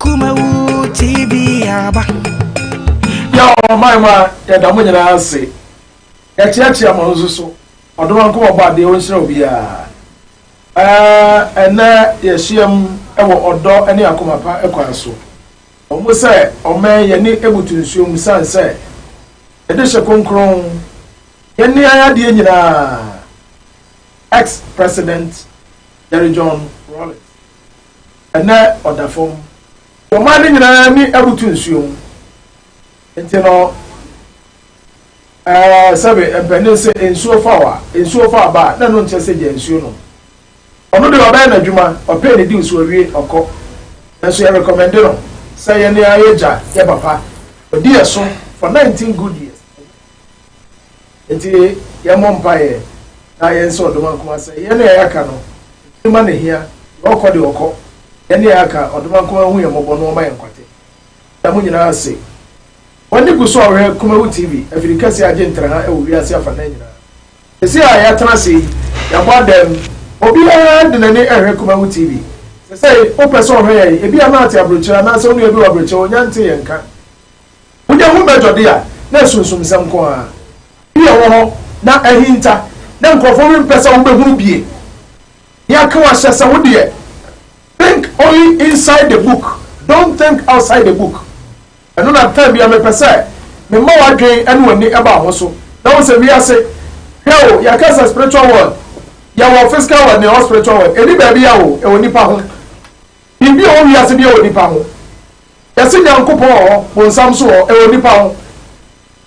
Akumawu TV aba. Yɛ ɔman mu a yɛda mo nyinaa ase. Yɛkyeakyea mo nso so. Ɔdom ankoma bɔ adeɛ ɔnhyira obiara. Ɛnɛ yɛhyiam wɔ ɔdɔ ne akoma pa kwan so. Wɔn sɛ ɔman yɛne ebutu nsuo mu sane sɛ yɛde hyɛ kronkron yɛne ayɛ adeɛ nyinaa. Ex-President Jerry John Rawlings. ɛnɛ ɔda fam. Ɔman no nyinaa ani abutu nsuo ho. Nti no, ɛɛ, sɛbe mpanin se nsuo fa wo a, nsuo fa aba a, na ɛno nkyerɛ sɛ gya nsuo nom. Ɔno deɛ ɔbɛyɛ n'adwuma, ɔpee ne dew so ɔwie, ɔkɔ. Nanso yɛ rekɔmɛnde no sɛ yɛn ara yɛgya yɛ papa. Ɔdi yɛ so for nineteen good years. Enti yɛmmɔ mpaeɛ na yɛnsɛ ɔdom ankoma sɛ yɛn a yɛaka no, ɛtumi ma no hia, deɛ ɔkɔ deɛ ɔkɔ, yɛn a yɛaka, ɔdom ankoma nhu yɛn mmɔbɔ na ɔmma yɛn nkwate. Yɛda mo nyinaa ase. W'ani gu so a wohwɛ Kumawu TV, afiri kɛseɛ a agye ntraha wɔ wiase afanan nyinaa. Seesei a yɛatena ase yi, yɛabɔ adam, obiara de n'ani rehwɛ Kumawu TV. Seesei, wopɛ sɛ wohwɛ yɛn, ebia na woate aburokyire, anaasɛ wo nua bi wɔ aburokyire, wonnya ntee yɛn nka. Wonya ho bɛdɔ de a, na asunsumsɛm nko ara bi a ɛwɔ hɔ na ahinta, na nkurɔfo rempɛ sɛ wobehunu bio. Nea ka wahyɛ sɛ wo deɛ, Think only inside the book, don't think outside the book. Ɛno na time biara mepɛ sɛ mema w'adwene ne w'ani ba wo ho so na wohu sɛ wiase, hwɛ o, yɛka sɛ spiritual world, yɛwɔ physical world na yɛwɔ spiritual world, ɛnni baabiara o, ɛwɔ nnipa ho. Biribi ɔwɔ wiase bia wɔ nipa ho yɛse Nyankopɔn wɔ hɔ bonsam nso wɔ hɔ ɛwɔ nipa ho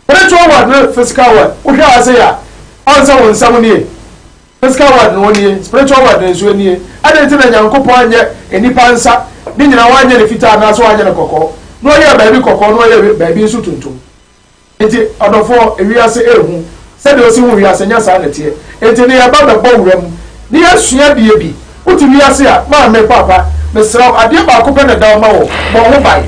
spiritual world ne physical world wohwɛ ha sei a ɔn sɛ wo nsɛm nie physical world no ɔnie spiritual world no nso ɛnie ɛdɛn nti na Nyankopɔn anyɛ nipa nsa ne nyina wanyɛ no fitaa anaasɛ wanyɛ no kɔkɔɔ na ɔyɛɛ baabi kɔkɔɔ na ɔyɛɛ baabi nso tuntum Enti, ɔdɔfoɔ, wiase rehu sɛdeɛ ɔsi hu wiase, nyɛ saa na ɛteɛ. Enti ne yɛba bɛbɔ wura mu ne yɛasua adeɛ bi. Wote wiase a, maame, papa, mesrɛ wo, adeɛ baako pɛ na ɛda hɔ ma wo, bɔ ho ban.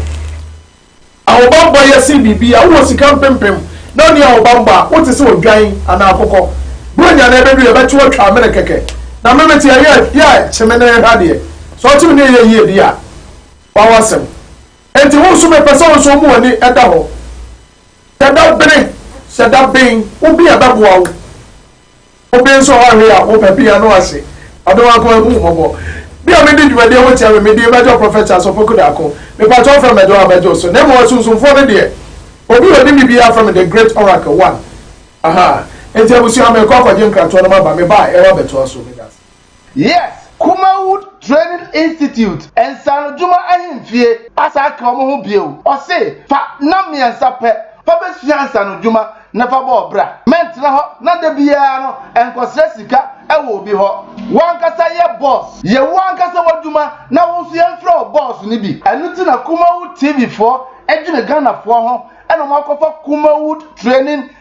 Ahobanbɔ yɛ sen biribiara. Wowɔ sika mpempem na wonni ahobanbɔ a, wote sɛ odwan anaa akokɔ. Buronya no ɛbɛdu, yɛbɛte wo atwa amene kɛkɛ. Na me, mete ayɛ, yɛ, kye me ne yɛnhwɛ adeɛ. Sɛ ɔkye me ne yɛyɛ yie deɛ a, wawo asɛm. Enti wo nso mepɛ sɛ wo nso woma w'ani da hɔ. Hyɛ da bere, hyɛ da ben wo bea bɛboa wo. Wo ben nso hɔ ahwe a wopɛ bea no ahye. Ɔdɔ wa nkoa hu wo mmɔbɔ. Me a me di dwumadie ho tia me me din bɛdwo Prophet Charles Opoku Darko. Me pakyɛ wo frɛ me dɔ a bɛdwo so. Na mmom asunsumfoɔ no deɛ obi a onim me biara frɛ me the great oracle one. Ahaa. Enti abusua me rekɔ akɔgye nkratoɔ no maba me baɛ yɛwɔ abɛtoa so. Meda ase. Yes Kumawood Training Institute Nsaanodwuma Ahemfie asan aka wɔn ho bio, ɔse fa nam mmiɛnsa pɛ fa bɛsua nsaanodwuma na fa bɔ ɔbra. Mɛntena hɔ na da biara no nkɔsrɛ sika wɔ obi hɔ. W'ankasa yɛ bɔs, yɛ wo ankasa w'adwuma na wo nso yɛmfrɛ wo bɔs no bi. Ɛno nti na Kumawood TV foɔ dwene Ghanafoɔ ho na wɔakɔfa Kumawood Training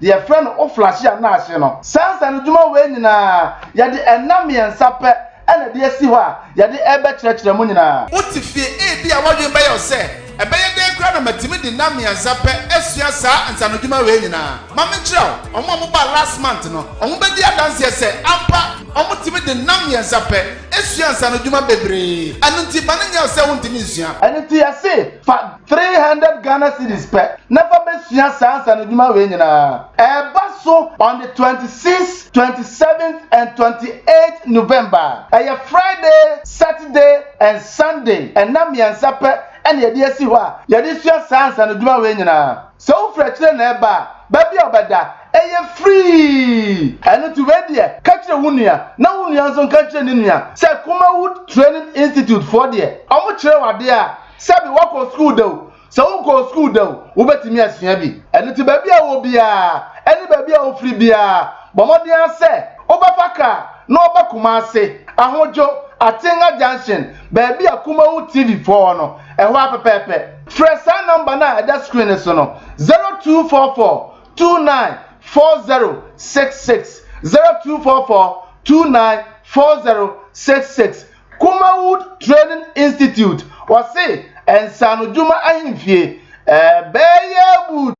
deɛ yɛfrɛ no Oflahia no ase no. Saa nsaanodwuma wei nyinaa, yɛde nna mmiɛnsa pɛ na ɛde asi hɔ a yɛde rebɛkyerɛkyerɛ mo nyinaa. Wote fie, ebia w'adwene bɛyɛ wo sɛ, 'Ɛbɛyɛ dɛn koraa na matumi de nna mmiɛnsa pɛ asua saa nsaanodwuma wei nyinaa? Ma menkyerɛ wo, wɔn a wɔbaa last month no, wɔbɛdi adanseɛ sɛ, ampa, wɔtumi de nna mmiɛnsa pɛ sua nsaanodwuma bebree. Ɛno nti, mma no nyɛ wo sɛ wontumi nsua. Ɛno nti yɛse, fa Three hundred Ghana cedis pɛ na fa bɛsua saa nsanodwuma wei nyinaa. Ɛreba so on the twenty six, twenty seven and twenty eight November. Ɛyɛ Friday, Saturday and Sunday, nna mmiɛnsa pɛ na yɛde asi hɔ a yɛde sua saa nsanodwuma wei nyinaa. Sɛ wofiri akyire na ɛreba a, baabi a wobɛda, ɛyɛ free. Ɛno nti wei deɛ ka kyerɛ wo nua na wo nua nso nka nkyerɛ ne nua sɛ Kumawood Training Institute foɔ deɛ wɔkyerɛ wo adeɛ a Sɛbi woakɔ sukuu da o, sɛ wonkɔɔ sukuu da o, wobɛtumi asua bi. Ɛno nti baabi a wowɔ biara ne baabi a wofiri biara, bɔ mmɔden ara sɛ wobɛfa kaa na woaba Kumasi, Ahodwo, Atenga Junction, baabi a Kumawu TV foɔ wɔ no, ɛhɔ ara pɛpɛɛpɛ. Frɛ saa nɔmba no a ɛda screen no so no, 0244 29 4066, 0244 29 4066. Kumawood Training Institute, wɔse nsaanodwuma ahemfie, ɛbɛyɛ wood.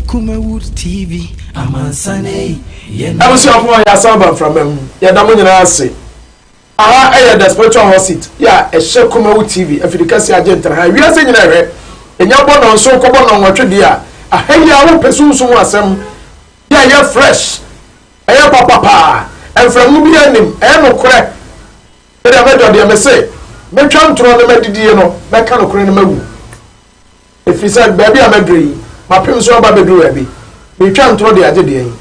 Kumawood TV, amansan ei, yɛn. Abusuafoɔ yɛasan aba mframa mu. Yɛda mo nyinaa ase. Aha yɛ The Spiritual Hot Seat yɛ a ɛhyɛ Kumawu TV afidikɛseɛ agyentra ha a wiase nyina ɛhwɛ. Ɛnya bɔ nɔnson kɔbɔ nɔnwɔtwe deɛ a, aha yi ara wopɛ sunsum mu asɛm yɛ a ɛyɛ fresh, ɛyɛ papa paa, mfrɛmu biara nnim, ɛyɛ nokorɛ. Me deɛ mɛdɔ deɛ mese mɛtwa ntorɔ ne madidie no mɛka nokorɛ no mawu. Ɛfiri sɛ baabi a maduru yi mapem so aba abɛduru baabi. Meretwa ntorɔ de agye deɛ yi.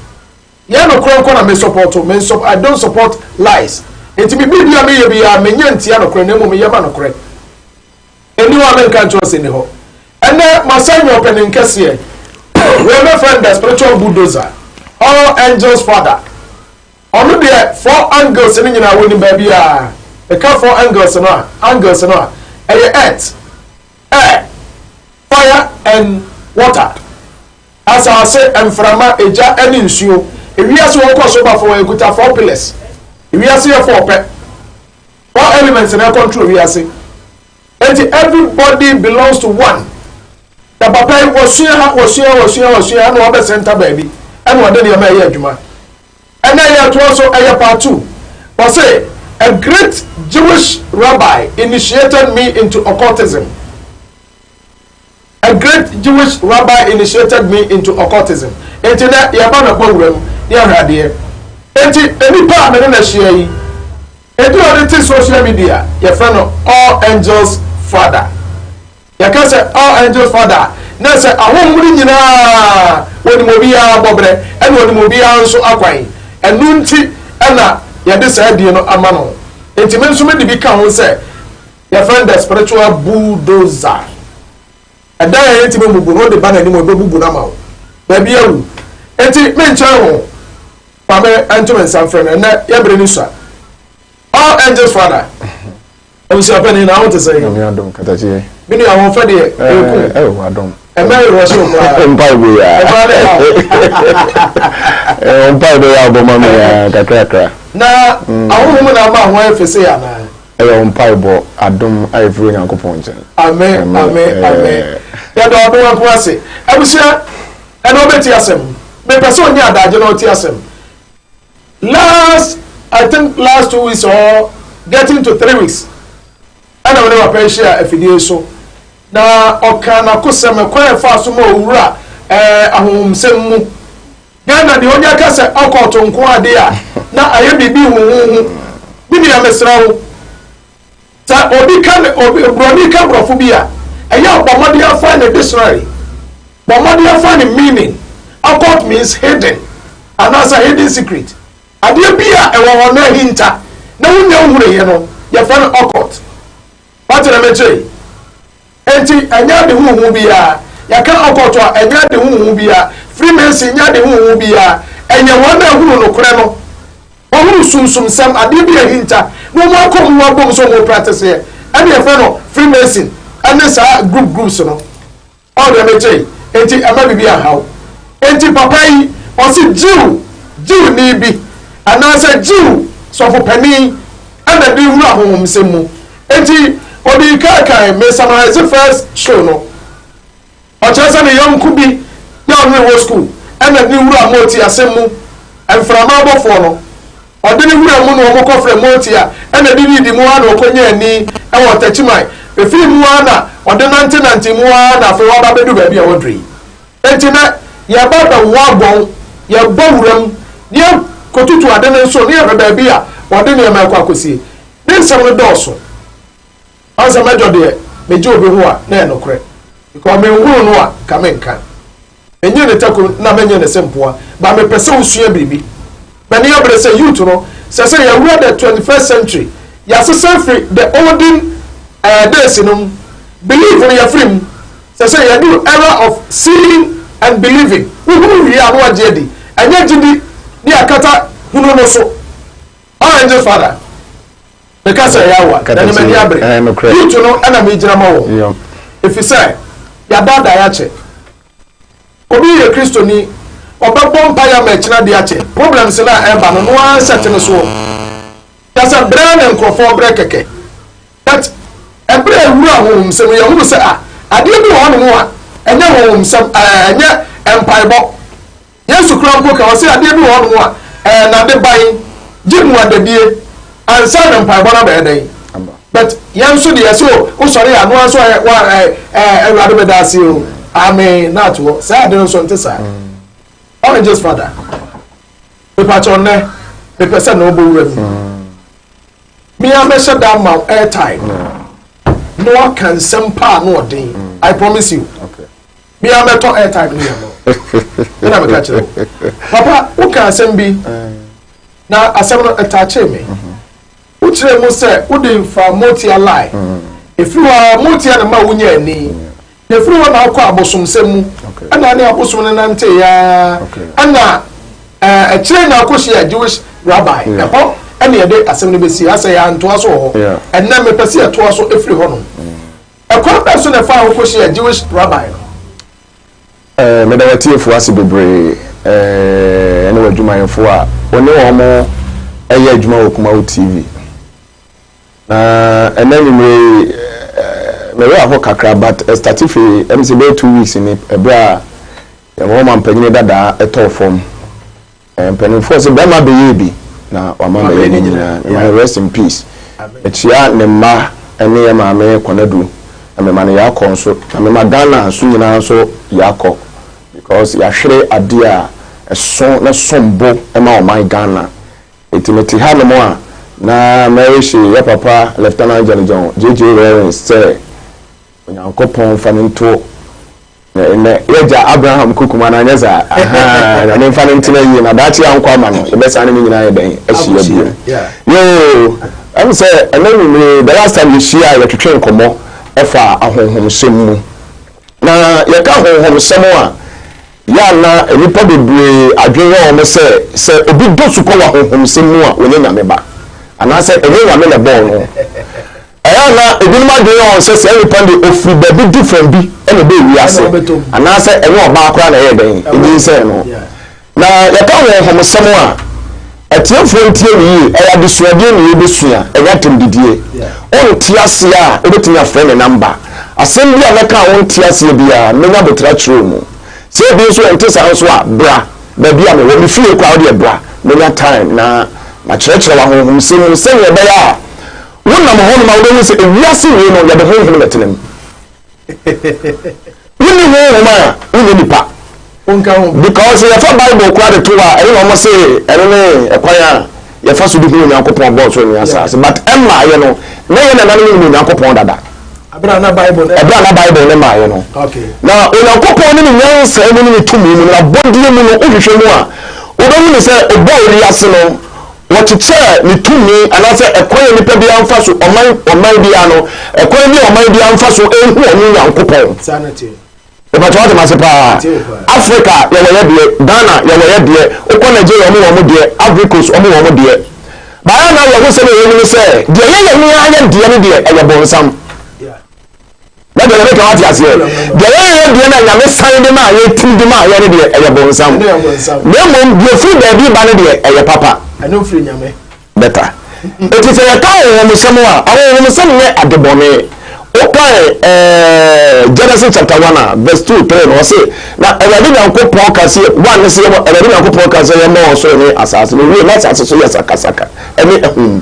Yɛ nokorɛ nko na me sɔpɔto, me nsɔ I don't support lies Enti me biribiara me yɛ biara me nyɛ ntia nokorɛ na mmom me yɛ ma nokorɛ Ɛni hɔ a me nka nkyerɛ wo sɛ ɛni hɔ Ɛnɛ ma san nyɛ ɔpanin kɛseɛ Wei me frɛ no the spiritual bulldozer All angels father Ɔno deɛ four angles no nyinaa wɔnim baabiara Me ka four angles no a, angles no a, ɛyɛ earth, air, fire and water. Asase, mframa, egya ne nsuo. Ewiase wɔ kɔ so ba fɔɔ ɛkuta four pillars. Ewiase yɛ four pɛ. Four elements na ɛcontrol wiase. Enti everybody belongs to one. Na papa yi wɔsua ha, wɔsua, wɔsua, wɔsua ɛna wɔbɛ center baabi ɛna wɔde nneɛma ɛyɛ adwuma. Ɛna yɛ ɛtoɔ so ɛyɛ part two. Wɔse a great Jewish rabbi initiated me into occultism. A great Jewish rabbi initiated me into occultism, enti nnɛ yɛreba no bɔ wuram ne ahradeɛ. Enti nipa a me ne no ahyia yi, edin a ɔde te social media, yɛfrɛ no All Angels Father. Yɛka sɛ All Angels Father a, na sɛ ahonhom no nyinaa, ɔnim obiara bɔberɛ, ɛna ɔnim obiara nso akwan. Ɛno nti na yɛde saa din no ama no. Enti me nso mede bi ka ho sɛ Yɛfrɛ no the spiritual bulldozer. Ɛdan a yɛntumi mmubu no, wode ba n'anim a, ɔbɛbubu no ama wo. Baabi awu. Enti menkyɛn wo. Ma me nto me nsa mfrɛ no. Ɛnnɛ, yɛ bere no sua. All Angels Father. Abusuapɛni, na wo te sɛn? Nyame adom, Katakyeɛ. Me nua, ahoɔfɛ deɛ, ɛreku wo. Ɛɛ, ɛwɔ adom. Ɛmɛ yɛ rush wo koraa. Mpae bo yɛ a. Ɛmɛ ne ha wo. Ɛɛ, mpae bo yɛ a, ɔbɔ ma me yɛ a, kakrakra. Na ahohom na ama ho ayɛ fese anaa? Ɛyɛ wo mpaebɔ adom a ɛfiri Onyankopɔn nkyɛn. Amen amen amen yɛda ɔdom nko ase abusua ɛnɛ ɔbɛti asɛm mepɛ sɛ ɔnya adagye na ɔti asɛm last I think last two weeks or getting to three weeks ɛna mene papa yi hyia afidie so na ɔka n'akosɛm ɛkwan ɛfa so ma owura ɛɛ ahomsɛm mu Ghana deɛ onya ka sɛ ɔkɔɔto nko adeɛ a na ayɛ biribi huhuhu. Me nua mesrɛ wo sɛ obi ka ne obi broni ka brɔfo bi a ɛyɛ a bɔ mmɔden afind ne dictionary bɔ mmɔden afind ne meaning occult means hidden anaasɛ hidden secret adeɛ bi a ɛwɔ hɔ na ahinta na wonya nhunuiɛ no yɛfrɛ no occult wate na mekyerɛ yi Enti ɛnyɛ ade huhu biara. Yɛka occult a, ɛnyɛ ade huhu biara. Freemason nyɛ ade huhu biara. Ɛyɛ wɔn a ɛhunu nokorɛ no. Wɔhunu sunsumsɛm, adeɛ bi a ahinta, na wɔn akɔ mu abom sɛ wɔn practiceɛ. Ɛne yɛfrɛ no Freemason ɛne saa group groups no. Ɔho deɛ mete yi? Enti ɛmma biribi anha wo. Enti papa yi, ɔse Jew, Jewni bi, anaasɛ Jew sɔfopanin ɛna de wura ahonhomsɛm mu. Enti odii kan kan, me summarise first show no, ɔkyerɛ sɛ ne yɔnko bi na ɔne no wɔ school ɛna ne wura Moti asɛm mu mframa bɔfoɔ no, ɔde ne wura mu na wɔn kɔ frɛ Moti a ɛna didi didi mu ara na ɔkɔ nyaa ni ɛwɔ Ɔtakyiman, efiri mu ara na ɔde nante nante mu ara na afei waba abɛdu baabi a waduru yi. Enti na yɛba abɛwɔ abɔn, yɛba wura mu na yɛkɔtutu ade no nso na yɛhwɛ baabi a wɔde nneɛma rekɔ akɔsie. Ne nsɛm no dɔɔso. Ɔn sɛ mɛdɔ deɛ megye obi ho a na ɛyɛ nokorɛ because menhunuu no a nka menka. Menyee ne tako na menyee ne sempoa but mepɛ sɛ wosua biribi. M'ani abere sɛ youth no sɛ sɛ yɛawura the twenty first century yɛasesa afiri the olden eh days no mu believe no yɛafiri mu sɛ sɛ yɛaduru era of seeing and believing wohunu wie a na wagye adi ɛnyɛ gyidi ne akata hunu no so. Ɔn ɛnye father me ka sɛ ɛyɛ awa na ɛne m'ani abere youth no ɛna me gyina ma wɔn efisɛ yɛadaadaa yɛ akyɛ obi yɛ kristoni ɔbɛbɔ mpaeɛ ama ɛkyena de akyɛ problems no a ɛba no no ara nsɛte no soɔ yɛsɛ brɛ ne nkorɔfoɔ brɛ kɛkɛ but ɛberɛ ɛwura honhom sɛm yɛhunu sɛ a adeɛ bi wɔ hɔ nom a ɛnyɛ honhom sɛm ɛnyɛ mpaebɔ Yesu koraa mpo ka ɔse adeɛ bi wɔ hɔ nom a ɛyɛ nade ban gye muadadie ansa na mpaebɔ no abɛyɛ dɛn but yɛn nso deɛ yɛse o wosɔre a noa nso ɛ wa ɛ ɛ awurade medase o amen na ato hɔ saa ade no nso nte saa oranges father mepakyɛ ɔnɛ mepɛ sɛ na ɔbɔ wura mu mea mɛhyɛ da ma airtime na waka nsɛm paa na ɔden i promise you okay. Me ara mɛtɔ airtime no yɛ ama wo. Ɛna meka kyerɛ wo. Papa, woka asɛm bi, na asɛm no ɛtakyee me. Wokyerɛɛ mu sɛ wode faa Motia line. Ɛfiri hɔ ara, Motia na ɛma wonyaa ani. Na ɛfiri hɔ na wokɔɔ abosomsɛm mu. Ɛna wo ne abosom no nanteeɛ ara. Ɛna eh, akyire na wokɔhyiaa Jewish rabbi. Mm. Ɛhɔ ɛna yɛde asɛm no bɛsie. Asɛ yɛantoa so wɔ hɔ. Ɛnnɛ mepɛ sɛ yɛtoa so ɛfiri hɔnom. Mm. Ɛkwan bɛn so na ɛfaa wo kohyiaa Jewish rabbi no? Eh, meda w'atiefo ase bebree, eh, ɛne w'adwumayɛfo a wo ne wɔn yɛ adwuma wɔ Kumawo TV. Na ɛnɛ anwummere yi, eh, me werɛ aho kakra, but ɛstate fi ɛm sɛ bɛyɛ two weeks ni, ɛberɛ a yɛn Roma mpanyin dadaa ɛtɔɔ fam. Mpanimfoɔ sɛ bɛrima bɛyɛɛ bi na wama bɛyɛ ne nyinaa. Mema no rest in peace. Mekyea ne mma ne yɛn maame Konadu na mema no Yaakɔ nso. Na mema Ghana nso nyinaa nso Yaakɔ because yɛahwere adeɛ a ɛso na ɛsom bo ma ɔman Ghana. Enti mete ha nom a na mɛwihye yɛ papa Lieutenant General JJ Rawlings sɛ Onyankopɔn mfa no nto Nnɛ yɛagya Abraham kokum anaa anyɛ saa? Ahaa, Nyame mfa no ntena yie na daakye yɛankɔ ama no, yɛbɛsan ne ne nyinaa ayɛ dɛn? Ahyia biom. Yoo, ɛm sɛ ɛnɛ anwumerɛ yi, the last time yɛhyiaa yɛtwetwee nkɔmmɔ faa ahonhomsɛm mu. Na yɛka ahonhomsɛm a, yɛ a na nnipa bebree adwene yɛ wɔn sɛ, sɛ obi dɔ su kɔ wɔ ahonhomsɛm mu a, ɔnyɛ Nyame ba. Anaasɛ ɛnyɛ Nyame na ɛbɔɔ no. Ɛyɛ a na ebinom adwene yɛ wɔn sɛ saa nipa no deɛ ɔfiri baabi du fam bi na ɛbaa wiase, anaasɛ ɛnyɛ ɔbaa koraa na ɛyɛɛ dɛn nyinsɛn no. Na yɛka honhomsɛm a, atiefoɔ ntie no yie, ɛyɛ adesuadeɛ na yɛbɛsua, ɛnyɛ atɛmdidie. Wonte aseɛ a, wobɛtumi afrɛ me namba. Asɛm bi a mɛka a wonte aseɛ biara, mɛnya aboterɛ akyerɛ wo mu. Sɛ ebi nso wonte saa nso a, bra baabi a mewɔ. Me fie koraa, wodeɛ bra, mɛnya time na makyerɛkyerɛ wo ahonhomsɛm mu sɛdeɛ ɛbɛyɛ a, Wonam hɔnom a wobɛhu sɛ ewiase wei no yɛde honhom na ɛtena mu. Wonni honhom a wonyɛ nipa. Wonka ho. Because sɛ yɛfa Bible koraa de to a, ɛno na wɔn se ɛno ne ɛkwan a yɛfa so de hu Onyankopɔn bɔɔ soro ne asaase. But ɛmmaeɛ no, na yɛn nananom nim Onyankopɔn dada. Ɛberɛ a na Bible no. Ɛberɛ a na Bible no mmaeɛ no. Okay. Na Onyankopɔn ne ne nyansa mu ne ne tumi mu, n'abɔdeɛ mu no, wohwehwɛ mu a, wobɛhu ne sɛ ɔbɔɔ wiase no. Wɔkyekyɛɛ ne tumi anaasɛ ɛkwan a nipa biara mfa so, ɔman ɔman biara no, ɛkwan bi a ɔman biara mfa so nhu wɔn Nyankopɔn. Saa na ɛteɛ. Mepatwa wate mase paa. Africa yɛwɔ yɛ deɛ, Ghana yɛwɔ yɛ deɛ, wokɔ Nigeria wɔn wɔn deɛ, Ivory Coast wɔn wɔn deɛ. Baayɛ na awerɛhosɛm a ɛwɔ mu ne sɛ deɛ yɛyɛ no ara yɛ deɛ no deɛ ɛyɛ bonsam. na deɛ yɛbɛka wate aseɛ deɛ yɛyɛ deɛ na nyame san de maa yɛ tiri de maa yɛ no deɛ ɛyɛ bonsam na mmom deɛ firi baabi ba no deɛ ɛyɛ papa bɛta ɛti sɛ yɛka ahohomsɛm a ahohomsɛm nyɛ adebɔne wokae eh, genesis chapter 1 a verse 2 3 no ɔse na awurade nyankopɔn ka sɛ one ne sɛ awurade nyankopɔn ka sɛ yɛmmɔ ɔsoro ne asase no wie na asase so yɛ sakasaka ɛne ahum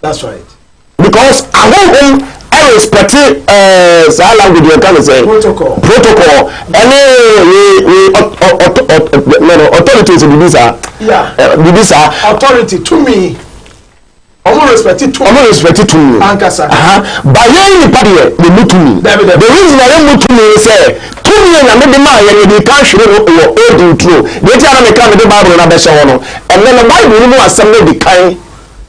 That's right. Because ahohom respect eh, saa language yɛn ka ne sɛ protocol protocol ɛne authority sɛ biribi saa eh, biribi saa authority tumi ɔmo respect tumi ɔmo respect tumi ankasa ba yɛn nipa deɛ yɛ mu tumi the reason a yɛ mu tumi sɛ tumi yɛ nyame de maa yɛn yɛde kan hwere no wɔ old nturo deɛ ti a na meka mede bible no abɛhyɛ hɔ no ɛnɛ no bible no mu asɛm no de kan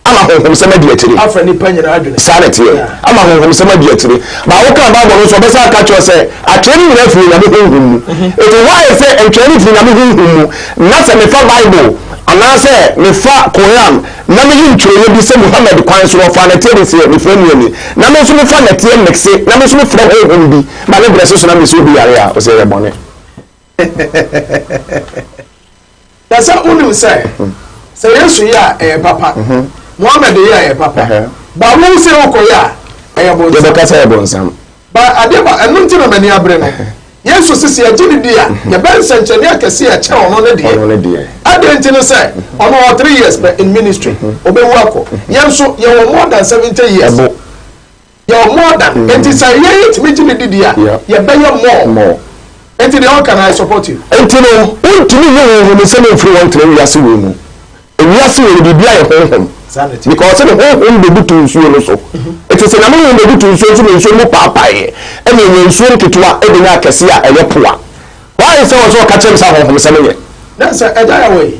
ama honhomsɛm adi akyire. Afa nnipa nyinaa adwene. Saa na ɛteɛ. Ama honhomsɛm adi akyire. But woka Bible no nso ɔbɛsan aka kyerɛ sɛ atwɛn no nyinaa firi Onyame honhom mu. Eti why is it ntwɛn no firi Onyame honhom mu na sɛ mefa Bible anaasɛ mefa Quran na meyi ntwerɛeɛ bi sɛ Muhammad kwan so ɔfaa nɛteɛ de seɛ mefrɛ mu ani na me nso mefa nɛteɛ mixe na me nso mefrɛ honhom bi ba ne brɛse so na mese obi yare a ɔsɛ ɛyɛ bɔne. Na sɛ wonim sɛ, sɛ Yesu yɛ a, ɛyɛ papa, Muhammad yɛ a, ɛyɛ papa, but wo sɛ wokɔyɛ a, ɛyɛ bonsam. Yɛbɛka sɛ ɛyɛ bonsam. But adeɛ ba, ɛno nti na m'ani abere no. Yesu se sɛ yɛgye no di a, yɛbɛyɛ nsɛnkyerɛnneɛ akɛseɛ a ɛkyɛn ɔno ne deɛ. Ɔno ne deɛ. Adɛn nti ne sɛ, ɔno ɔwɔ three years pɛ in ministry, ɔbɛwu akɔ. Yɛn nso, yɛwɔ more than seventy years. Ɛbo. Yɛ wɔ more than nti sɛ yɛ yɛ tumi gye ne di di a yɛ bɛ yɛ more nti deɛ ɔka na I support you. Nti no wontumi nye honhom nsɛm mfiri wɔn ntena wiase wei mu ewiase wei no biribiara yɛ honhom because ɔse ne honhom bebutu nsuo no so nti sɛ nyame honhom bebutu nsuo nso na nsuo mu paapaeɛ ɛna enya nsuo nketewa ɛbenya akɛseɛ a ɛyɛ poa why sɛ ɔse ɔka kyerɛ me sɛ ahonhom sɛm yɛ. Nansa agya yɛ wɔ yi.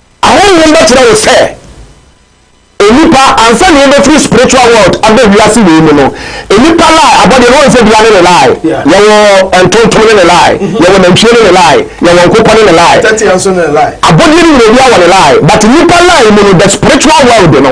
Ahonhom bɛkyerɛ wo sɛ nnipa, ansa na yɛbɛfiri spiritual world aba wiase wei mu no, nnipa lie abɔdeɛ no, wɔn sɛ dua ne ne lie, yɛwɔ ntontom ne ne lie, yɛwɔ nantwie ne ne lie, yɛwɔ nkokɔ ne ne lie, abɔdeɛ no nyina obiara wɔ ne lie, but nnipa lie mu no, the spiritual world no,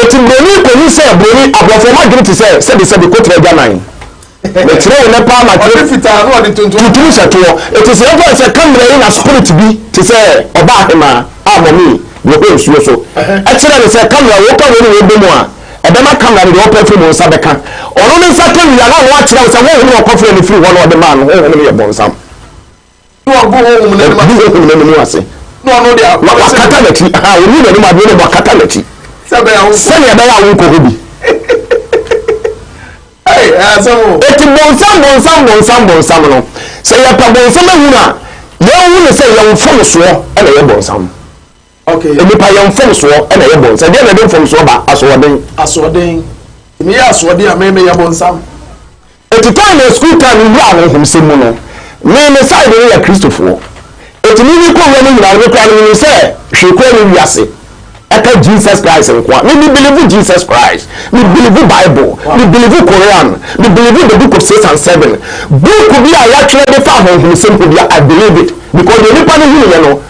Enti buroni kɔhu sɛ buroni, aborɔfoɔ mo adwene te sɛ sɛbesɛbe kɔtire agyanan. Mekyerɛ wo nɛ paa matwerɛ tuntum hyɛ toɔ. Enti sɛ yɛmfa no sɛ kamera yi na spirit bi te sɛ ɔbaa hemaa a mɔmee no hɔ nsuo so kyerɛ no sɛ kamera wei ka wei ne wei bɔ mu a, ɛbɛma kamera no deɛ ɔpɛ firi mo nsa bɛka. Ɔno ne nsa ka wie a na ɔno akyerɛ wo sɛ honhom na ɔkɔfrɛɛ no firi hɔ na ɔde maa no, honhom no yɛ bonsam. Na wagu honhom no anim ase. Wagu honhom no anim ase. Na ɔno de a. Na wakata n'akyi. Aha, ɔnni n'anim adeɛ na wakata n'akyi. Sɛ ɛbɛyɛ a wonkɔ. Sɛdeɛ ɛbɛyɛ a wonkɔ hɔ bi. Ei, ɛyɛ asɛm o. Eti bonsam, bonsam, bonsam, bonsam no, sɛ yɛpɛ bonsam ahunu a, yɛnhu no sɛ yɛn mfomsoɔ na ɛyɛ bonsam. Nnipa yɛ mfomsoɔ na ɛyɛ bɔn. Sɛ deɛn na ɛde mfomsoɔ ba? Asoɔden. Asoɔden. Me yɛ asoɔden a me me yɛ bɔnsam. Eti time yɛ school time no wura ahohom sɛm mu no me me side no yɛ Kristofoɔ. Eti me me kɔ wura mu nyinaa no me koraa no me nim sɛ hwee koraa nni wiase ɛka Jesus Christ nkoa. Me me believe Jesus Christ, me believe Bible, me believe Koran, me believe the book of six and seven. Book bi a yatwerɛ de fa ahohom sɛm ho bia I believe it because deɛ nipa no hunu yɛ no.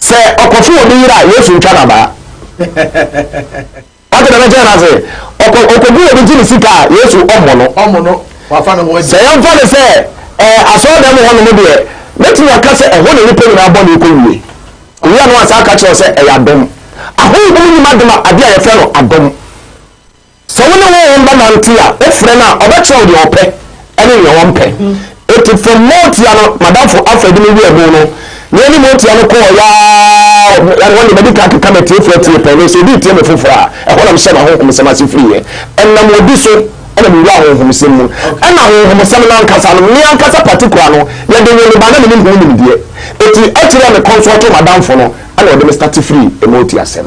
Sɛ ɔkɔfo obi yere a, Yesu ntwa no abaa. Wate dɛm nkyɛn no ase? Ɔkɔ ɔkɔgu obi gye ne sika a, Yesu ɔmmɔ no. Ɔmmɔ no, wafa ne ho adi. Sɛ yɛmfa no sɛ ɛɛ asɔɔdan mu hɔnom deɛ, mɛtumi aka sɛ ɛhɔ na nnipa nyinaa bɔne kɔ wie. Owura no ansa aka kyerɛ wo sɛ ɛyɛ adom. Ahonhom nim adom a, adeɛ a yɛfrɛ no adom. Sɛ wo ne Honhom bɛnante a, wofrɛ no a, ɔbɛkyerɛ wo deɛ ɔpɛ ne deɛ ɔmpɛ. Enti from Motia no, m'adamfo Alfred ne me wiee ɛbo no, na yɛne Motia no kɔɔ yɛ ara, ɛhɔ deɛ madi kan akeka m'atiefoɔ atie pɛn, nanso obi retie me foforɔ a, ɛhɔ na mehyɛɛ m'ahonhomsɛm ase firiiɛ. Ɛnam obi so na mewuraa ahonhomsɛm mu. Ɛnna ahonhomsɛm no ankasa no, me ankasa particular no, yɛde woo me ba a na menim ho nimdeɛ. Enti akyiri a mekɔnsɔɔtoo m'adamfo no na ɔde me starte firii Motia asɛm.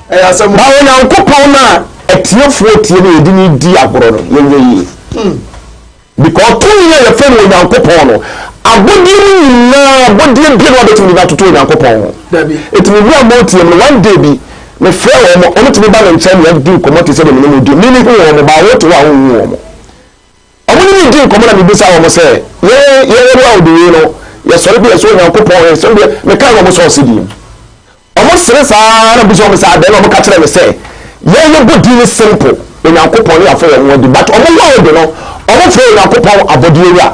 Ma Onyankopɔn no a atiefoɔ tie na yɛde no di agorɔ no, yɛnyɛ yie. Hmm. Because tumi a yɛfrɛ no Onyankopɔn no, abɔdeɛ no nyinaa, abɔdeɛ bia na wabɛtumi de no atoto Onyankopɔn ho. Ɛtumi bi a motie no, one day bi, mefrɛ wɔn mo, wɔtumi ba me nkyɛn na yɛdi nkɔmmɔ te sɛ deɛ me ne mo di. Mimi hu wɔn mo, baa wote hɔ a wonhu wɔn mo. Wɔne me dii nkɔmmɔ na mebisaa wɔn sɛ, Yɛn yɛrewe awɔde wei no, yɛsɔre kɔ yɛn soro Onyankopɔn hɔ nsɛm deɛ, mekaa wɔn sɛ ɔse din. Wɔsere saa ara na mebisaa wɔn sɛ adɛn na wɔka kyerɛɛ me sɛ, Yɛn yɛbɔ din ne simple, Onyankopɔn ne yɛafɔ yɛn ho adi, but wɔn ho awɔde no, wɔfrɛ Onyankopɔn abɔdeɛ wura.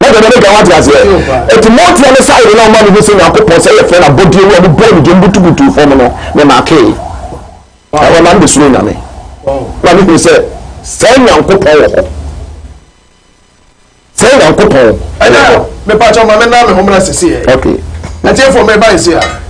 Na dɛm no gya wate aseɛ ɛti mɔnteɛ ne side na ɔma mehu sɛ nyankopɔn sɛ yɛfrɛ no abɔdeɛ wu a ne bɔɔ ne gyam butubutuu fam no me makee ɛhɔ na mede suro nyame na mehunu sɛ sɛ nyankopɔn wɔ hɔ sɛ nyankopɔn ɛnɛ mepakyɛ ma mena me homena seseɛ okay ɛtiɛfoɔ meba ɛse a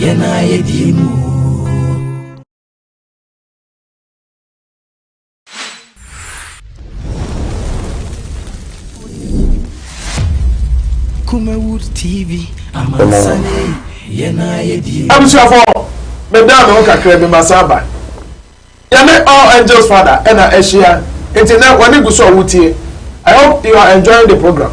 Yɛn a yɛdi mu. Kumawood TV, amansane, yɛn a yɛdi mu. Abusuafo, meda me ho kakra bi ma saa ba. Yɛne All Angels Father ɛna ahyia, nti nɛ wɔne gu so a wotie. I hope you are enjoying the program.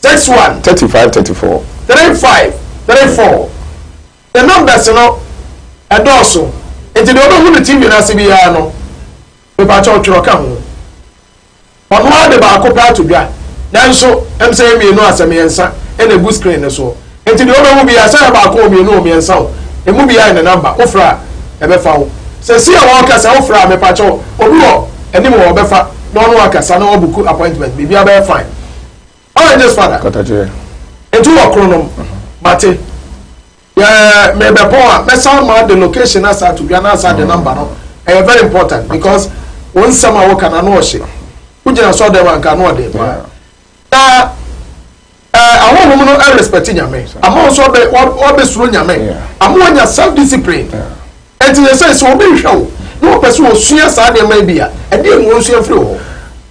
Text one. Thirty five thirty four. Three five three four. Ne numbers no ɛdɔɔso nti deɛ ɔbɛhu no TV no ase biara no mepakyɛw twerɛ ka ho. Ɔno ara de baako pɛ ato dwa nanso ɛm sɛ yɛ mmienu a sɛ mmiɛnsa na egu screen no soɔ nti deɛ ɔbɛhu biara sɛ yɛ baako o mmienu o mmiɛnsa o emu biara yɛ ne number wofrɛ a ɛbɛfa wo. Sɛsi a wɔɔkasa wofrɛ a mepakyɛw obi wɔ anim hɔ ɔbɛfa na ɔne wo akasa na wabuku appointment biribiara bɛyɛ fine. All right, this father. Katakyɛ. Nti wɔ koro nom. Mate. Yɛ mebɛpɔn a mɛsan ma de location asa ato dwa na asa de namba no. Ɛyɛ very important because wɔn nsɛm a wɔka na no ɔhye. Wogyina sɔ dɛm anka no ɔde paa. Na ɛɛ ahohom no ɛrespɛte nyame. Ama nso ɔbɛ ɔbɛ soro nyame. Ama wɔnya self discipline. Nti yɛ sɛ sɛ obi hwɛ wo na ɔpɛ sɛ osua saa nneɛma bi a ɛdeɛ na wɔn nsua firi hɔ.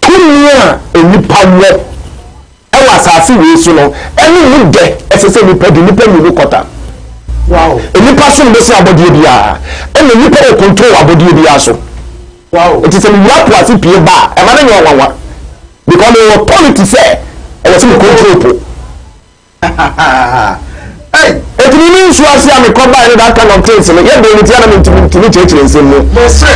Tumi a nnipa wɔ wɔ asase wei so no, ɛne mu dɛ. Ɛsɛ sɛ nnipa di nnipa mmienu kɔta. Wow. Nnipa som bo sen abɔdeɛ biara, ɛna nnipa wɔ control wɔ abɔdeɛ biara so. Wow. Nti sɛ mewura po ase pie ba a, ɛma no nyɛ ɔwanwa. Because mewɔ authority sɛ ɛwɔ sɛ me control po. Ei! Enti me ne nsu ase a mekɔbae no that kind of things no, yɛ den nti a na mentumi ntumi kyerɛkyerɛ nsɛm mu. Mese,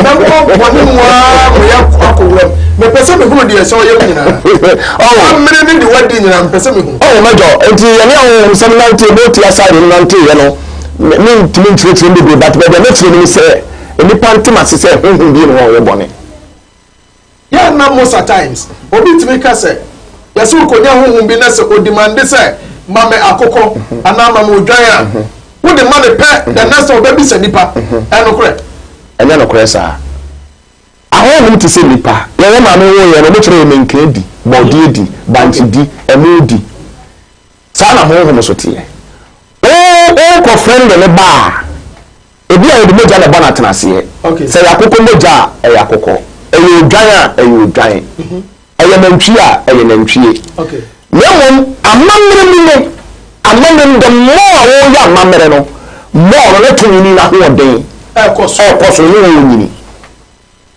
Mɛbɔ bɔne mu ara ma yɛakɔ akɔ wuram. Mepɛ sɛ mehunu deɛ ɛsɛ ɔyam nyinaa. Oh. W'amene ne deɛ w'adi nyinaa, mepɛ sɛ mehu. Oh, Major, enti yɛne ahonhomsɛm nantee, booty aside no nanteeɛ no, me, mentumi nkyerɛkyerɛ mu bebree, but baabi a mɛkyerɛ mu ne sɛ, nnipa nte m'ase sɛ honhom bie ne hɔ a ɔyɛ bɔne. Yɛ na most a times obi tumi ka sɛ yɛse okonya honhom bi na sɛ odimande sɛ ma me akokɔ anaa ma me odwan a wode ma no pɛ the next time ɔbɛbisa nipa. Ɛyɛ nokorɛ? Ɛnyɛ nokorɛ saa. Ahonhom te sɛ nipa. Yɛn yɛn maame woo yɛn no ɔmo kyerɛ yɛn menkaa di, bɔɔdeɛ di, bankye di, ɛmoo di. Saa na honhom nso teɛ. O, worekɔ frɛn de no ba a, ebi a yɛde mogya na ɛbɔ no atenaseɛ. Sɛ ɛyɛ akokɔ mogya a, ɛyɛ akokɔ. Ɛyɛ odwan a, ɛyɛ odwan. Ɛyɛ nantwie a, ɛyɛ nantwie. Na mmom amammerɛ mu no, amammerɛ mu, the more a woreyɛ amammerɛ no, more no ne tonini no ahoɔden ɛrekɔ soro ne wɔrenyini.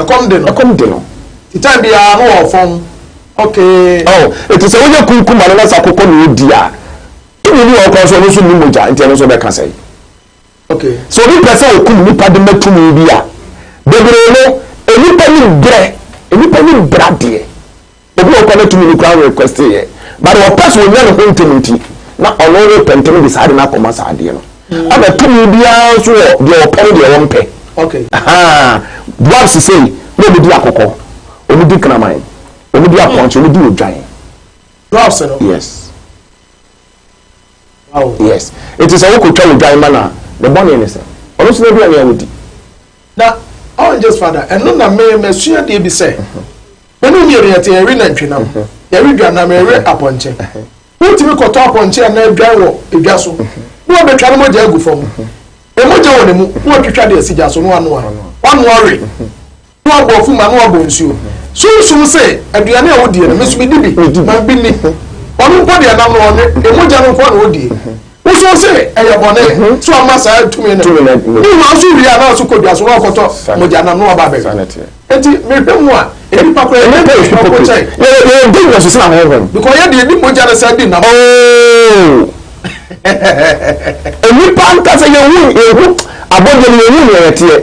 Ɛkɔm de no. Ɛkɔm de no. Ti time biara no wɔ fɔn okay. Oh eti sɛ woyɛ kunkum ano na sɛ akokɔ na odi a tumi bi wɔ hɔ koraa nso ɔno nso nni mogya nti ɛno nso bɛka sɛn. Okay. Sɛ obi pɛ sɛ okum nipa de ma tumi bi a bebree no enipa nim brɛ enipa nim brɛ adeɛ. Obi wɔ hɔ koraa na tumi no koraa request yɛ but ɔpɛ sɛ ɔnya ne ho ntɛm nti na ɔno repɛ ntɛm de saa de no akɔma saa adeɛ no mm. ɛna tumi biara nso wɔ deɛ ɔpɛ ne deɛ ɔmpɛ okay. dwarfs sei na ɔmudi akɔkɔ ɔmudi kraman ɔmudi apɔnkye ɔmudi odwan dwarfs no yes yes ɛti sɛ wokɔtwa odwan ma no a ne bɔne ne sɛ ɔno so no aduane a wodi Na oranges fa da ɛno na me masua adeɛ bi sɛ me ne mmienu yɛte yɛwe nantwi nam yɛwe dwa nam yɛwe apɔnkye wotumi kɔtɔ apɔnkye anaa adwan wɔ edwa so na wabɛtwa no mogya agu fam ɛmogya wɔ ne mu na watwitwa de asi gya so na wanoa wanoa we na wabɔ afu ma na wabɔ nsuo sunsum sɛ aduane a wodie no me so medi bi ma bi ni ɔno mpo deɛ nam no ɔnwe ɛmogya no nko na ɔdie Wosuro sɛ ɛyɛ bɔne nso ama saa tumi no. Bi wɔ hɔ nso wie a na ɔso kɔ dua so na ɔkɔtɔ mogya nam na waba abɛwe. Enti mehwɛ mu a, nnipa koraa yɛyɛ bɔne soronko kyɛn. Yɛyɛ dangerous sen ahonhom. Because yɛn deɛ yɛdi mogya na san di nam. Ooo! Nnipa ankasa yɛhu abɔdeɛ no, yɛhu nea yɛteɛ.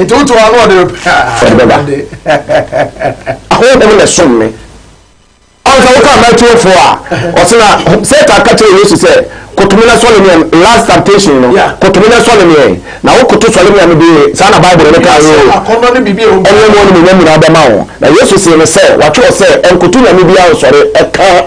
Nti woto hɔ a na ɔde no pɛ a. Ɔde bɛba. Ahonhom na ɛsom me. Ɔn sɛ woka Matthew four a, ɔse na Satan ka kyerɛɛ Yesu sɛ, Koto me na sɔle me ɛ, last temptation no, Yeah. koto me na sɔle me ɛ. Na wokoto sɔle me a mede, saa na Bible no kaa Wiase oo, akɔnnɔ ne biribi a ɛwɔ mu ɛne mu biara. animuonyam nyinaa bɛma wo. Na Yesu see no sɛ, wɔatwerɛ sɛ, Ɛnkoto nyame biara nsɔre, ɛka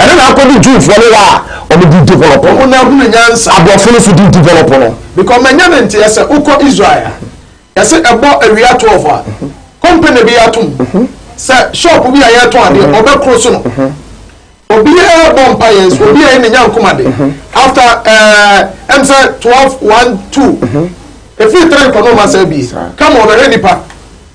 Ɛno na akɔdu Jewfoɔ no hɔ a wɔn din develop no. Wɔn ahunu nyansa. Aborɔfo no nso din develop no. Because manya ne nteɛ sɛ wokɔ Israel a, yɛse ɛbɔ awia twelve a, company bi ato mu sɛ shop bi a yɛtɔn adeɛ wɔbɛkoro so no. Obiara bɔ mpaeɛ nso obiara yɛ ne nyankom ade. After eh, ɛm sɛ twelve, one, two, ɛfiri three kɔ no wɔn asan abie. Come wɔbɛhwɛ nipa.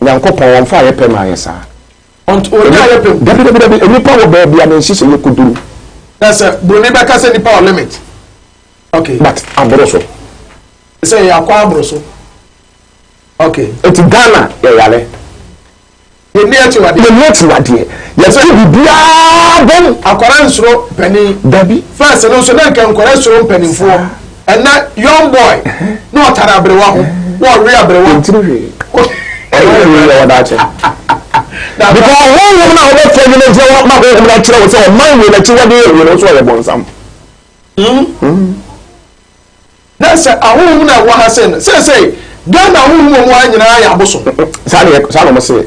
Nyankopɔn ɔmmfa ayɛ pɛ mma yɛ saa. Ɔnt ɔnnyɛ ayɛ pɛ mu. Dabi dabi dabi nipa wɔ baabi a ne nhyehyɛeɛ kɔduru. Na sɛ broni bɛka sɛ nipa wɔ limit ok. But aboro so. Sɛ yɛ akɔ aboro so ok. Nti Ghana yɛ yare. Yɛ nni akyiwadeɛ. Yɛ nni akyiwadeɛ. Yɛ tu biribiara bom. Akwadaa nsuro panin. Dabi. First no nso na nka nkwadaa suro mpaninfoɔ. Saa. Ɛnɛ young boy na ɔtare aberewa ho na ɔwe aberewa. Ntiri hwee. Ɔno ayɛ wei yɛ ɔdaakye. Because honhom no a wobɛfrɛ adwuma nti na ma honhom no akyerɛ wo sɛ ɔman wei n'akyiwadeɛ yɛ wei no nso ɔyɛ bɔnsam. Na sɛ ahonhom no a ɛwɔ ha sɛ no seesei Ghana ahonhom a wɔwɔ ha nyinaa yɛ abosom. Saa na wɔse.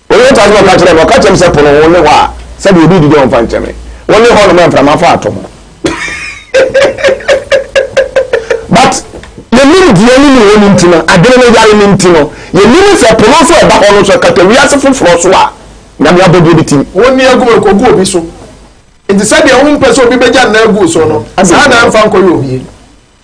Wɔn mu taase na ɔka kyerɛɛ me, ɔka kyerɛɛ me sɛ, Po no, wone hɔ a, sɛdeɛ obi redidi a ɔmfa nkyɛ me. Wone hɔ nom a mframa fa ato ho. But yɛnim deɛ ne mu hɔ no nti no, adwene no yare no nti no, yɛnim sɛ po no nso a ɛda hɔ no nso ɛkata wiase foforɔ so a Nyame abɔdeɛ bi tim. Wo nne agu ɛkɔgu obi so. Nti sɛdeɛ wompɛ sɛ obi bɛgya nna agu wo so no, saa na ɛmfa nkɔyɛ obie.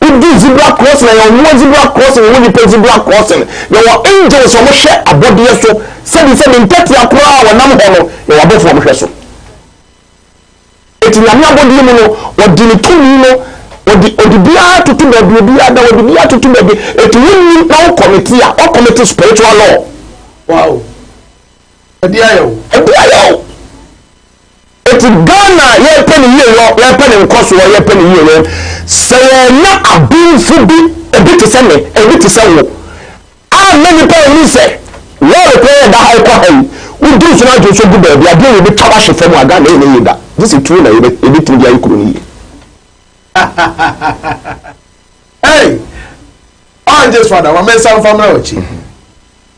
Wodi zebra crossing a, yɛwɔ mmoa zebra crossing, yɛwɔ nnipa zebra crossing, yɛwɔ angels a wɔhwɛ abɔdeɛ so sɛbi sɛ ne ntɛtea koraa a wɔnam hɔ no, yɛwɔ abɔfo a wɔhwɛ so. Eti Nyame abɔdeɛ mu no, ɔde ne tumi no, ɔde ɔde biara toto baabi, obiara da, ɔde biara toto baabi. Eti wonni na wo committee a, ɔ committee spiritual law. Wow. Ɛde ayɛ o. Ɛde ayɛ o. Eti Ghana yɛpɛ ne yie yɔ yɛpɛ ne nkɔsoɔ yɛpɛ ne yie yɔ sɛ yɛnya abenfo bi ebi te sɛ me ebi te sɛ wo amma nipa ahu sɛ lɔre kwan a ɛda ha ɛkɔ ha yi wo duru so na adwene so gu baabi adeɛ yɛ bɛtwa wahye fam a Ghana yɛ ne yie da gye sɛ tuo na yɛ bɛtumi de ayɛ kuro no yie. Hey! Ɔngye so ada, wamensa mfa mmra ɔkyi.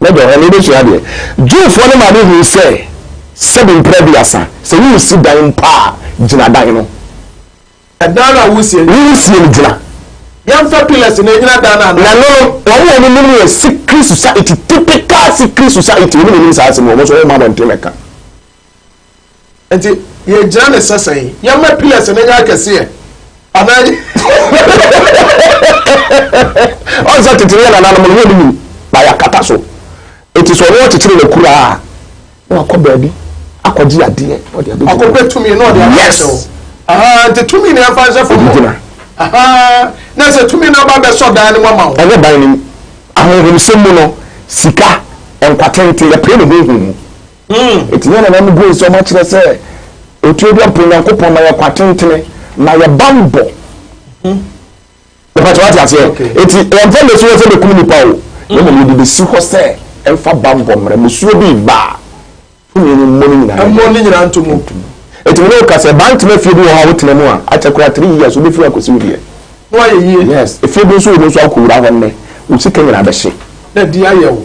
Mɛdɔ hɔ na wobɛsua adeɛ. Jewfoɔ no maame hui sɛ sɛbi mprɛ aduasa, sɛ woresi dan mpo a, gyina dan no. Ɛdan no a woresie no. Woresie no gyina. Yɛmfa pillars na ɛnyina dan no anaa? Na no no, wɔn a wɔnim no yɛ secret society, typical secret society, wɔn na wɔnim saa asɛm yi, wɔn nso wɔmma abɔnten mmɛka. Enti yɛgyina ne sɛsɛn. Yɛmma pillars no nyɛ akɛseɛ anaa yɛ. Ɔn sɛ tete no yɛn nananom no wɔnnim na yɛakata so. Enti sɛ ɔno ɔkyekyere n'akura a, na wakɔ baabi akɔgye adeɛ na ɔde abɛgyina hɔ. Ɔkɔpɛ tumi na ɔde aba abɛhyɛ hɔ. Yes! Ahaa, nti tumi no yɛmfa nhyɛ fam hɔ. Gyina. Ahaa, na sɛ tumi no aba abɛsɔ dan no mu ama wo. Ɛnyɛ ban no mu. Ahonhomsɛm mu no, sika, nkwa tenten, yɛpere no honhom mu. Enti yɛn nananom guu nsɛm akyerɛ sɛ Otuoduampo Nyankopɔn ma yɛn kwa tentene na yɛn bammɔ. Mepatwa wate aseɛ? Enti yɛmfa mmɛsi hɔ sɛ bɛkum nipa o, na mmom yɛde bɛsi hɔ sɛ ɛmfa bammɔ mmra. Mmusuo bi reba a, tumi no mmɔ ne nyinaa yɛ dɛn? Nto mu. Enti me ne wo ka sɛ baa ntoma fie bi wɔ hɔ a wotena mu a, akyɛ koraa three years wobɛfiri hɔ akɔsi wo deɛ. Na wayɛ yie. Yes. Efie bi nso wɔ mu nso a wokɔwura hɔ nnɛ, wo sika nyinaa bɛhye. Na ɛde ayɛ wo.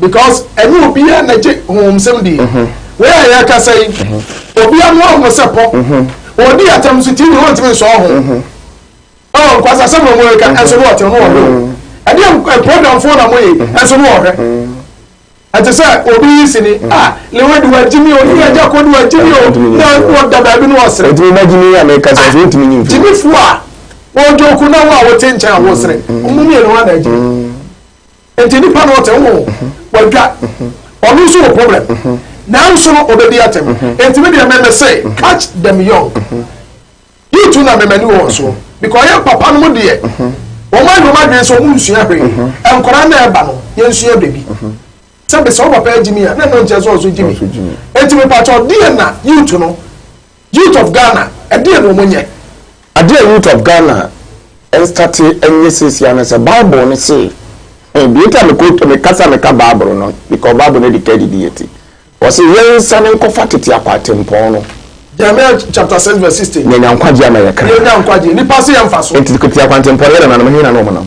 Because ɛnyɛ obiara na gye honhomsɛm di. Wei a yɛrekasa yi, obi ano ahono sɛ pɔ. Ɔredi atam so TV no ɔntumi nsɔ ho. Oh, nkwasasɛm na wɔreka nso no ɔte no ɔhwɛ o. Ɛdeɛ program foɔ na moyɛ nso no ɔhwɛ. Ɛte sɛ obi yi sini a lewe de wagye mi o ne agya kɔ de wagye mi o na ɔda baabi no ɔsere. Ɛtumi ba gyimi a mɛka sɛ ɛsɛ ntumi nyimfi. Gyimifoɔ a wɔdwoku na wo a wote nkyɛn a wosere. Ɔmo mmienu hɔ na agye. Enti nipa no ɔte ho, wadwa, ɔno nso wɔ problem, nanso no ɔbɛdi atɛm. Enti me deɛ me me se catch them young. You two na me m'ani wɔ wɔn soɔ because yɛn papa nom deɛ wɔn ayɛ wɔn adwene sɛ wɔn nsua hwee, nkwadaa no a ɛba no yɛn sua biribi. Sɛbi sɛ wo papa agye me a na ɛno nkyerɛ sɛ ɔnso gye me. Enti mepa kyɛw deɛ na you two no. Youth of Ghana ɛdeɛn na wɔnyɛ? Adeɛ a Youth of Ghana nstate nyɛ seesia ne sɛ Bible no se, deɛ nti a mekɔ meka sɛ meka Bible no because Bible no adi ka adidie nti, wɔse yɛnsane nkɔfa tete akwatempɔn no. Jeremiah chapter six verse sixteen. Yɛnya nkwagyeɛ ama yɛkra. Yɛnya nkwagyeɛ. Nnipa se yɛmfa so. Enti tete akwantempɔn no yɛ nananom, he na na wɔnam?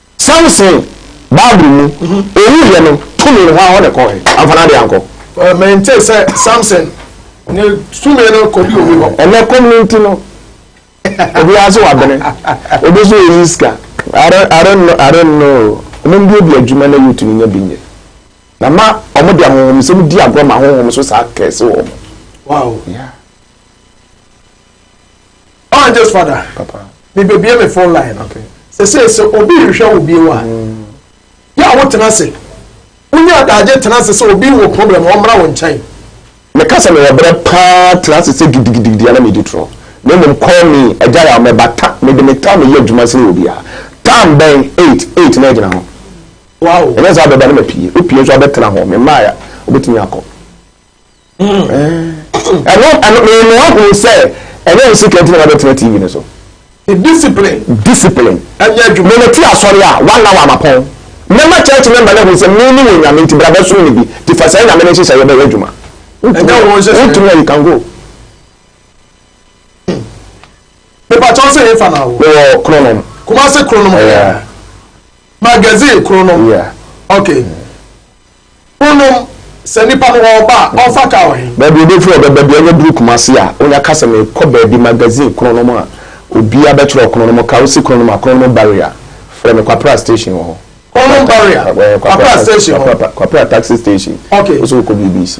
Samson, Bible mu, owuiɛ no, tumi no, hwan hɔ na ɛkɔɔ he? Amfa n'adeɛ ankɔ? Well, mentee sɛ Samson ne tumi no kɔduu obi hɔ. Ɛnnɛ kɔm no nti no, obiara nso wabene. Obi nso reyi sika. I don't, I don't know, I don't know. Wɔmmue obi adwuma na youth no nya bi nyɛ. Na ma wɔde ahonhomsɛm di agorɔ ma ahonhom nso saa curse wɔn. Wow. Yeah. Oh, just father. Papa. Me bebie me phone line. Okay. Sɛ sɛ sɛ obi rehwɛ wo bio a. Mm. Yɛ a wotena ase. Wonya adagye tena ase sɛ obi wɔ problem ɔmmra wo nkyɛn. Meka sɛ mewɔ berɛ paa tena ase sɛ gidigidigidi ana medi torɔ. Na mmom call me agya yɛ a mɛba ta mede me tam yɛ adwuma sene obiara. Tam bɛn 8 8 na agyina ho. Wow. Ɛnyɛ sɛ abɛba ne mapie. Wopie nso abɛtena ho. Memaeɛ wobɛtumi akɔ. ɛno ɛno mmienu ahun sɛ ɛnyɛ nsi kɛntɛn na wabɛtena tv no so. discipline discipline ɛnyɛ adwuma mene ti asɔre a one hour amapɔn mɛma church member na ehun sɛ me ne wɔn nyame nti bra bɛsom me bi ti fa saa nyame ne nhyehyɛ yɛ bɛyɛ adwuma ɛnyɛ wɔn nhyehyɛ wotumi a you can go. mepatɔ sɛ yɛfa na awo wɔ kronom kumase kronom magazine kronom okay. Wonom sɛ nipa no ɔɔba a ɔnfa car wɔ he? Baabi obefiri ɔbɛba biaa ɔnya duru Kumasi a onya ka sɛ meekɔ baabi magazine kronom a obiaa bɛkyerɛw kronom ka wosi kronom a kronom barrier frɛ me Kwapra station wɔ hɔ Kronom barrier Kwapra station hɔ Kwapra taxi station ok wosɛ wokɔ BBC.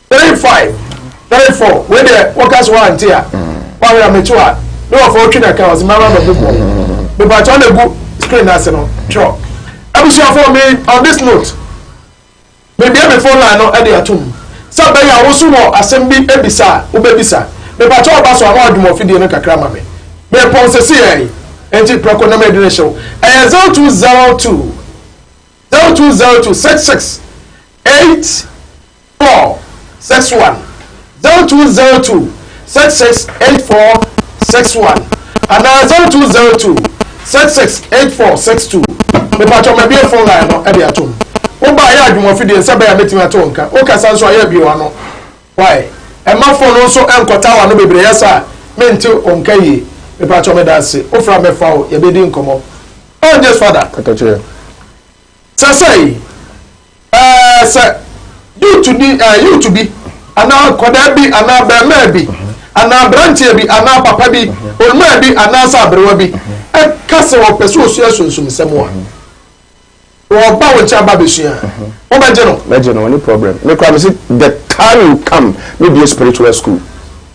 Three five three four wei deɛ woka so woante a woawerɛ a mekye wo a ne wɔfa wotwe na ka ɔse mɛma mɛbobɔ mepakyɛ ɔna gu screen no ase no twerɛ abusuafoɔ me on this note mebie me phone line no de atom sɛ bɛyɛ a wo so wɔ asɛm bi bisa a wobɛbisa mepakyɛ ɔba so a na wadwuma ɔfidie no kakra ma me mepɔn sese yɛe nti prɛko na mede ne hyew ɛyɛ zero two zero two Zero two zero two six six eight four six one zero two zero two six six eight four six one anaa zero two zero two six six eight four six two mepatwɔ mɛbie phone line no ɛde atom wo ba ayɛ adwuma fidie nsɛ bɛyɛ a mɛtumi ato nka wo kasa nso ayɛ abie wano wae ɛma phone no nso ɛnkɔta wano bebree yɛ saa mente onka yie mepatwɔ meda ase wofra mɛfa wo yɛbɛdi nkɔmɔ Oh nyɛ sua da kaka kyerɛ sɛ sɛi eh sɛ youth ni eh youth bi anaa akwadaa bi anaa bɛɛmaa bi anaa abranteɛ bi anaa papa bi olumaa bi anaa sɛ aberewa bi ɛka sɛ ɔpɛ sɛ osua sunsum sɛm a ɔba wo nkyɛn aba bɛsua wo bɛgye no bɛgye no ɔne problem me kora me se the time you come me bie spiritual school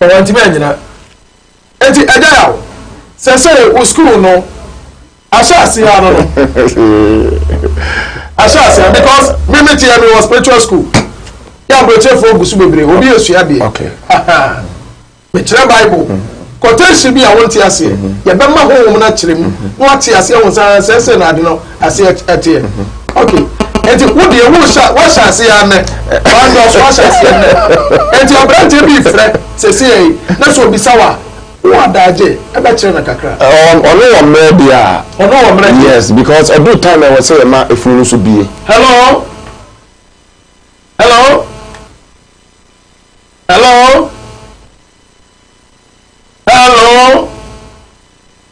Na wantumi annyina. Enti agya yaw. Sɛsɛɛ wo school no ahyɛase ara no no. ahyɛase ara because me me teɛ me wɔ spiritual school. Yɛ aburokyerefoɔ gu so bebree. Obi esua deɛ. Okay. Mekyerɛ Bible. Mm -hmm. Quotation bi a wonte aseɛ. Mm -hmm. Yɛbɛma honhom no akyerɛ mu. Mm -hmm. Na wate aseɛ ho saa sɛsɛɛ na ade no. aseɛ ɛteɛ ok nti wo deɛ wo hyɛ wahyɛ aseɛ anɛ wanyɛ ɔso ahyɛ aseɛ anɛ nti aberanteɛ bi frɛ sɛsi yɛ yi na sɛ obisa wa wo adaagye ɛbɛkyerɛ no kakra ɔno wɔ mmerɛ deɛ a ɔno wɔ mmerɛ yes because ɛdu time ɛwɔ sɛ yɛma efunu no so bie hello hello hello hello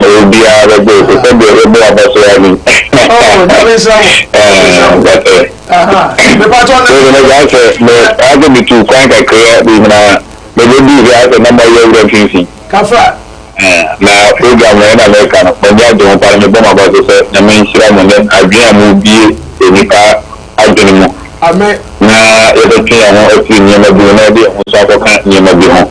Obiara bɛgye te sɛ deɛ yɛbɔ abɔsoaa ni. Oh, nyame nhyira mo. Nyame nhyira mo. That's it. Aha. Mepatɔ ne. Ɛna gya sɛ me ase me tu kwan kakra bi na mebe bi hia sɛ na mɔyɛ wura mfimfini. Kafra. Na program no ɛna mɛka no m'ani agye ho paa na mebɔ m'aba so sɛ nyame nhyira mo ne adwene a mobie nnipa adwene mu. Amen. Na yɛbɛtwe yɛn ho afiri nneɛma bi ho na yɛde yɛn ho nso akɔka nneɛma bi ho.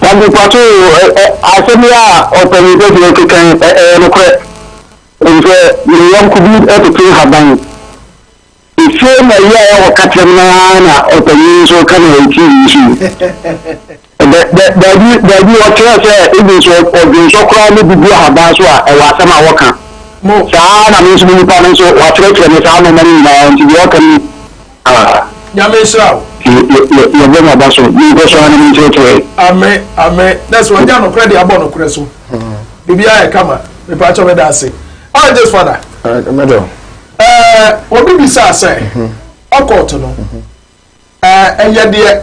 Tade Kwaso asɛm yi a ɔpanyin kɛse yi keka yi ɛyɛ nokorɛ. Ɛfisɛ ne yɔnko bi tete nhaban. Efie na yi a ɛwɔ kakyɛm no ara na ɔpanyin yi nso ka na ɛwɔ TV yi so yi. Baabi baabi ɔkyerɛ sɛ ebi nso ɔdwonsɔ koraa ne bi gu ahaban so a ɛwɔ asɛm a wɔka. Saa ara na me nso me nipa no nso wakyerɛkyerɛ me saa nneɛma no nyinaa nti deɛ ɔka no ni. Ah. Nyame nhyira wo. Yɛbɔ mo aba so, monkɔ so ara na monkyerɛkyerɛ. Amen, amen. Na sɛ wanya nokorɛ de abɔ nokorɛ so. Biribiara yɛ kama. Mepa kyɛw meda ase. How is this father? Meda o. Ɛɛ, obi bisaa sɛ, ɔkɔɔto no, ɛɛ, ɛyɛ deɛ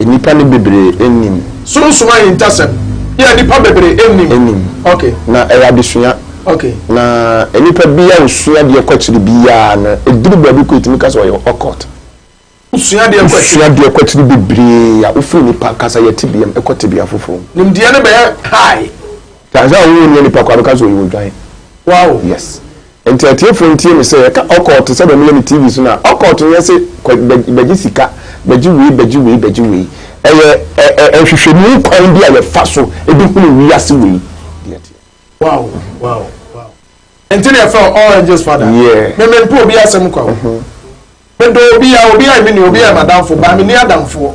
Nnipa no bebree nnim. Sunsum ahintasɛm yi a nnipa bebree nnim. Nnim. Ok. Na ɛyɛ adesua. Ok. Na nnipa bi a osua adeɛ kɔ akyiri biara no, eduru baabi koraa etumi ka sɛ ɔyɛ occult. Wosua adeɛ kɔ akyiri. Wosua adeɛ kɔ akyiri bebree a, wofiri nnipa ankasa yɛ tebeam kɔ tebea foforɔ mu. Nimdeɛ no bɛyɛ high. Ka sɛ ɔwo onua nipa kwa no ka sɛ ɔyɛ odwan. Wow! Yes. Nti atiefo ntie me sɛ yɛka occult sɛdeɛ meyɛ no TV so no a, occult nyɛ se kɔ bɛgye sika, bɛgye wei, bɛgye wei, bɛgye wei. Ɛyɛ ɛ-ɛ-ɛ nhwehwɛmu kwan bi a yɛfa so de hunu wiase wei deɛ ɛteɛ. Wow! Wow! Wow! Nti na yɛfrɛ wo All Angels Father? Yeah. Me mempɛ obi asɛm kwa o. Medɔ obiara, obiara yɛ me nua, obiara yɛ m'adamfo, but menni adamfoɔ.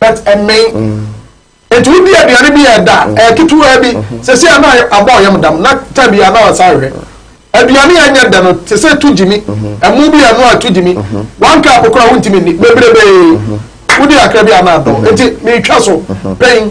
But ɛmmen. Nti wo di aduane bi a ɛda, ɛyɛ ketewaa bi, sɛsɛɛ na abɔ ɔyam dam, na time bi a na ɔsan ahwɛ. Aduane a ɛnyɛ dɛ no, te sɛ to gyimi, ɛmo bi a ɛnoa a to gyimi, one cup koraa wo ntumi nni, bebrebee. Wo di kakra bi a na adɔ. Nti me twa so, pɛn.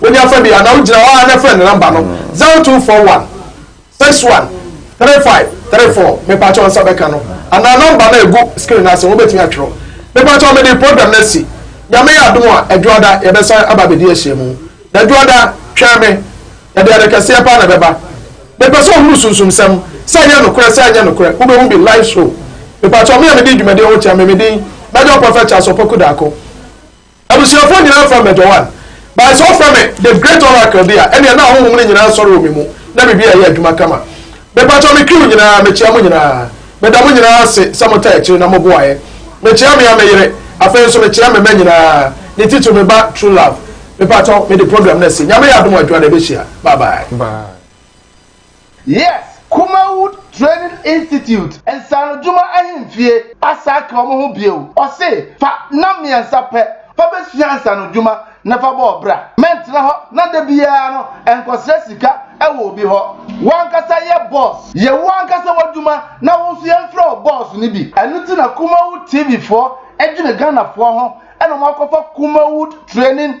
Wonya fa bi a, na wogyina hɔ ara na frɛ no nɔmba no, zero two four one, six one, three five, three four, mepakyɛw nsa bɛka no, anaa nɔmba no a egu screen no ase no, wobetumi atwerɛ. Mepakyɛw mede program no asi. Nyame yɛ adom a, Adwoada, yɛbɛsan aba abedi ahyiamu. Na Adwoada, twɛn me. Yɛde ade kɛseɛ paa na ɛbɛba. Mepɛ sɛ ohunu sunsumsɛm, sɛ ɛyɛ nokorɛ, sɛ ɛnyɛ nokorɛ. Wubehu bi, live show. Mepakyɛw, me a medi dwumadi ho kyerɛ me, me din, Major Prophet Charles Opoku Darko. Abusuafoɔ nyinaa frɛ me Joan. But sɛ wofrɛ me The Great Oracle de a, ɛnneɛ na ahonhom no nyinaa sɔre wɔ me mu, na biribiara yɛ adwuma kama. Mepakyɛw me crew nyinaa, mekyea mo nyinaa. Meda mo nyinaa ase sɛ motaa akyiri na moboaeɛ. Mekyea me ara me yere, afei nso mekyea me mma nyinaa, ne titiriw me ba True Love. Mepakyɛw, mede program no asi. Nyame yɛ adom a, Joan, yɛbɛhyia. Bye bye. Bye. Yes Kumawood Training Institute nsaanodwuma ahemfie asan aka wɔn ho bio. Ɔse fa nam mmiɛnsa pɛ fa bɛsua nsaanodwuma na fa bɔ ɔbra. Mɛntena hɔ na da biara no nkɔsrɛ sika wɔ obi hɔ. Wo ankasa yɛ bɔs, yɛ wo ankasa w'adwuma na wo nso yɛmfrɛ wo bɔs no bi. Ɛno nti na Kumawood TV foɔ dwene Ghanafoɔ ho na wɔakɔfa Kumawood Training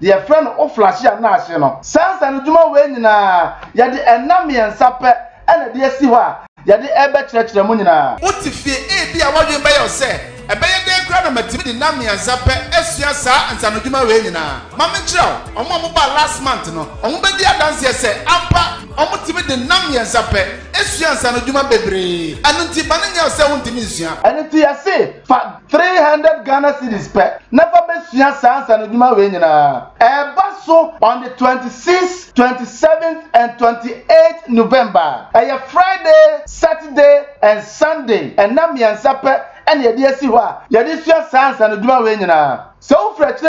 deɛ yɛfrɛ no Oflahia no ase no. Saa nsanodwuma wei nyinaa, yɛde nna mmiɛnsa pɛ na ɛde asi hɔ a yɛde rebɛkyerɛkyerɛ mo nyinaa. Wote fie, ebia w'adwene bɛyɛ wo sɛ, 'Ɛbɛyɛ dɛn koraa na matumi de nna mmiɛnsa pɛ asua saa nsanodwuma wei nyinaa? Ma menkyerɛ wo, wɔn a wɔbaa last month no, wɔbɛdi adanseɛ sɛ ampa wɔtumi de nna mmiɛnsa pɛ sua nsanodwuma bebree. Ɛno nti, mma no nyɛ wo sɛ wontumi nsua. Ɛno nti yɛse fa Three hundred Ghana cedis pɛ na fa bɛsua saa nsanodwuma wei nyinaa. Ɛreba so on the twenty six, twenty seven and twenty eight November. Ɛyɛ Friday, Saturday and Sunday, nna mmiɛnsa pɛ na yɛde asi hɔ a yɛde sua saa nsanodwuma wei nyinaa. Sɛ wofiri akyire.